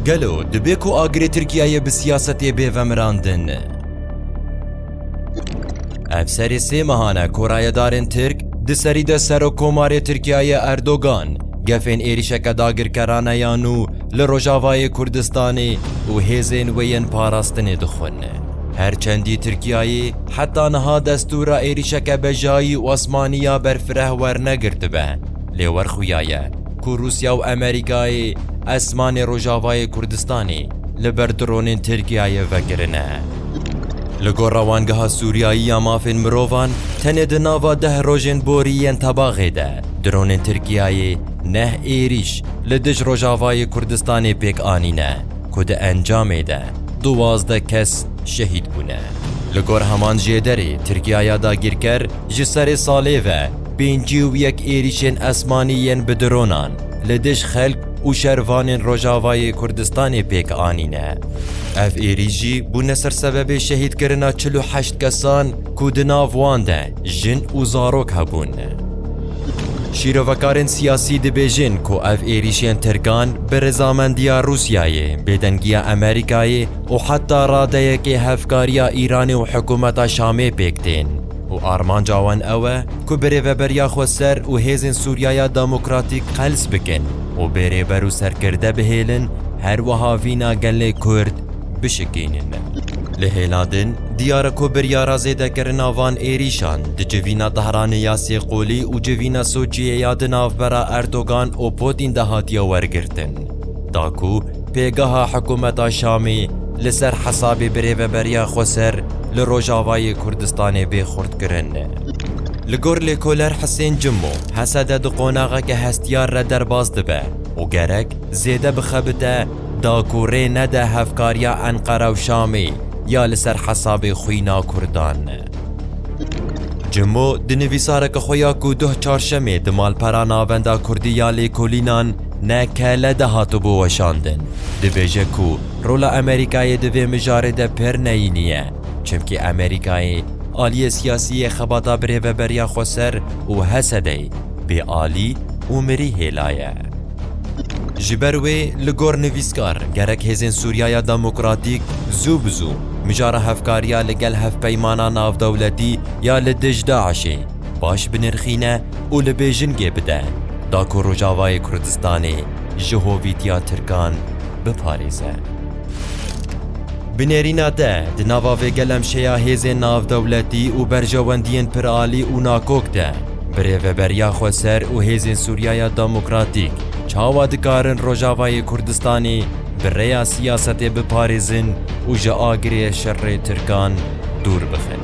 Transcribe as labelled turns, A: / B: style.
A: Gelo dibe ku agirê Tirkiyeyê bi siyasetê bê vemirandin? Ev serê sê mehan e ku rayedarên Tirk di serî de Serokkomarê Tirkiyeyê Erdogan gefên êrîşeke dagirkerane ya nû li Rojavayê Kurdistanê û hêzên wê yên parastinê dixwin. Her çendî Tirkiyeyê heta niha destûra êrîşeke bejayî û asmanî ya berfireh wernegirtibe, lê werxuyaye. ku Rûsya û Amerîkayê esmanê rojavayê Kurdistanê li ber dronên Tirkiyeyê vekirine. Li gor Rewangeha Sûriyayî ya Mafên Mirovan, tenê di nava deh rojên borî yên tebaxê de dronên Tirkiyeyê neh êrîş li dij rojavayê Kurdistanê pêk anîne ku di encamê de duwazdeh kes şehîd bûne. Li gor heman jêderê Tirkiyaya dagîrker ji serê salê ve, Pêncî û yek êrîşên esmanî yên bi dronan li dij xelk û şervanên Rojavayê Kurdistanê pêk anîne. Ev êrîş jî bûne ser sebebê şehîdkirina çil û heşt kesan ku di nav wan de jin û zarok hebûn. Şîrovekarên siyasî dibêjin ku ev êrîşên Tirkan bi rizamendiya Rûsyayê, bêdengiya Amerîkayê û heta radeyekê hevkariya Îranê û hikûmeta Şamê pêk tên. Û armanca wan ew e ku bi Rêveberiya Xweser û Hêzên Sûriyaya Demokratîk qels bikin û bê rêber û serkirde bihêlin, her wiha vîna gelê Kurd bişikînin. Li hêla din, diyar e ku biryara zêdekirina van êrîşan di civîna Tehranê ya sê qolî û civîna Soçiyê ya di navbera Erdogan û Putîn de hatiye wergirtin. Da ku pêgeha hikûmeta Şamê li ser hesabê birêveberiya Xweser li Rojavayê Kurdistanê bê xurtkirin. Li gor lêkoler Hisên Cimo, Hesede di qonaxeke hestiyar re derbas dibe û gerek zêde bixebite da ku rê nede hevkariya Enqera û Şamê ya li ser hesabê xwîna Kurdan. Cimo di nivîsareke xwe ya ku doh Çarşemê di malpera Navenda Kurdî ya Lêkolînan Ne kele de hatibû weşandin. Dibêje ku rola Amerîkayê di vê mijarê de pir neyînî ye. Çimkî Amerîkayê aliyê siyasî yê xebata birêveberiya Xweser û Hesedeyê bê alî û mirî hêla ye. Ji ber wê li gor nivîskar gerek hêzên Sûriyaya Demokratîk zû bi zû mijara hevkariya li gel hevpeymana navdewletî ya li dij DAIŞ'ê, baş binirxîne û li Bêjingê bide da ku Rojavayê Kurdistanê ji hovîtiya Tirkan biparêze. Bi nêrîna te di nava vê gelemşeya hêzên navdewletî û berjewendiyên piralî û nakok de birêveberiya xweser û hêzên Sûriyaya Demokratîk çawa dikarin Rojavayê Kurdistanê bi rêya siyasetê biparêzin û ji agirê şerê Tirkan dûr bixin?